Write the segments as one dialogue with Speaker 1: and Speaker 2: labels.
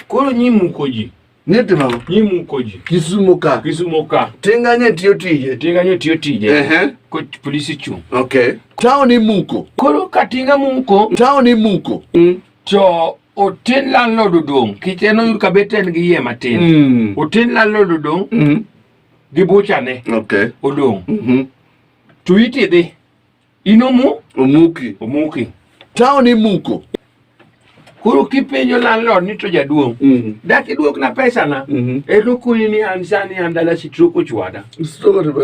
Speaker 1: Koro nyi muko ji. Ni timo. Nyi
Speaker 2: muko ji. Kisumo
Speaker 1: ka. Kisumo
Speaker 2: ka. Tinga nye tiyo
Speaker 1: tije. Tinga nye tiyo tije. Uh -huh. Ko polisi chung. Okay. Tao ni
Speaker 2: muko. Koro ka tinga
Speaker 1: muko. Tao ni muko.
Speaker 2: Mm. To
Speaker 1: otin landlord odong. Kiche no yur kabeten gi yie matin. Mm. Otin landlord odong. Mm. Gi bucha ne. Okay. Odong. Mm
Speaker 2: -hmm.
Speaker 1: To iti dhi. Inomu? Omuki. Omuki. Town
Speaker 2: imuko.
Speaker 1: Koro kipenjo landlord ni to jaduong', mm -hmm. dak iduokna pesana? Mm -hmm. Ero kuni ni an sani an dala sitroko chwada.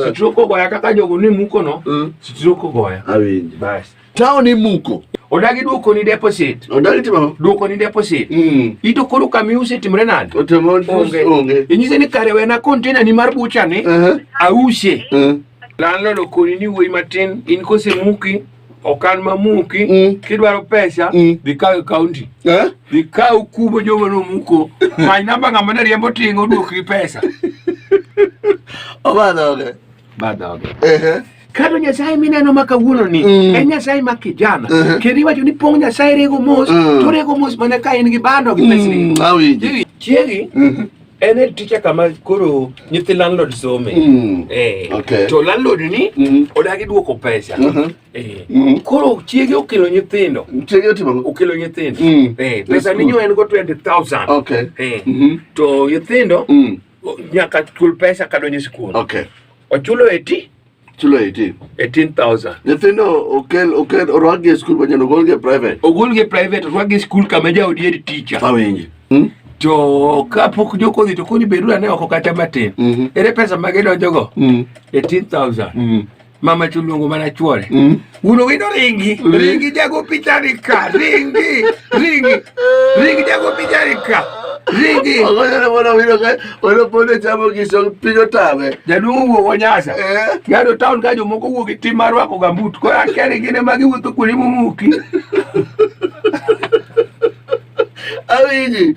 Speaker 1: Sitroko goya kaka jogo ni muko no, mm. sitroko goya. Awinjo. Bas.
Speaker 2: Town
Speaker 1: imuko.
Speaker 2: Odagi duoko ni
Speaker 1: deposit. Odagi timo. Duoko
Speaker 2: ni deposit.
Speaker 1: Mm. Ito koro kami use timre nade? Otemo onge. Onge.
Speaker 2: Inyise ni kare wena
Speaker 1: container ni mar bucha ni. Uh -huh. Ause. Uh -huh. Landlord okoni ni wuoyi matin in kosemuki okan mamuki mm. kidwaro pesa mm. dhi kaw e kaunti eh? dhi kaw kubo joma nomuko many namba ng'ama ne riembo tinga oduokri pesa
Speaker 2: obadhoge badhoge
Speaker 1: ehe kado nyasaye mineno ma kawuono ni mm. en nyasaye ma kijana uh -huh. kendo iwacho ni pong nyasaye rego mos uh mm. -huh. to rego mos mana ka en gi bando gi pesni mm. chiegi
Speaker 2: uh mm-hmm.
Speaker 1: -huh. en head teacher kama koro nyithi landlord some mm. eh. okay.
Speaker 2: to landlord ni
Speaker 1: mm. Mm-hmm. odagi duoko pesa mm -hmm. eh. mm -hmm. koro chiege okelo nyithindo chiege otimo okelo
Speaker 2: nyithindo mm.
Speaker 1: eh. pesa ninyo en go 20000 okay. eh. mm -hmm.
Speaker 2: to
Speaker 1: nyithindo mm. nyaka chul pesa kadonjo e sikul okay. ochulo
Speaker 2: eti
Speaker 1: chulo 18 18000 nyithindo okel
Speaker 2: okel orwakgi e skul manyien ogolgi e private ogolgi e private orwakgi
Speaker 1: e skul kama jaodi en teacher awinji hmm?
Speaker 2: to
Speaker 1: kapok jokodhi to koni bedu ane oko kata matin mm -hmm. ere pesa ma gidonjogo mm -hmm. 18000 mm -hmm. mama chuluongo mana chuore mm -hmm. Uno wino ringi ringi jago pichani ka ringi ringi ringi jago pichani ka ringi ogonyane mwana wino
Speaker 2: ka wano pone chamo giso piny otame jaduong' owuok onyasa
Speaker 1: eh? gado taon ka jomoko wuok gi tim mar rwako gambut koro akia ni gin ema giwuotho kuonde momuki
Speaker 2: awinji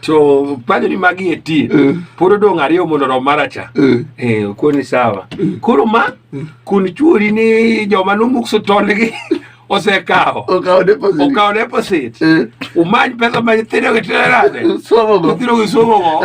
Speaker 1: to panjo ni magi eti uh, pod odong' ariyo mondo rom maracha uh, eh. eh, okoni sawa uh, koro ma uh, kun chuori ni joma nomukso tondgi osekawo okawo deposit uh, umany pesa ma nyithindo gi tero
Speaker 2: nade
Speaker 1: nyithindo gi somogo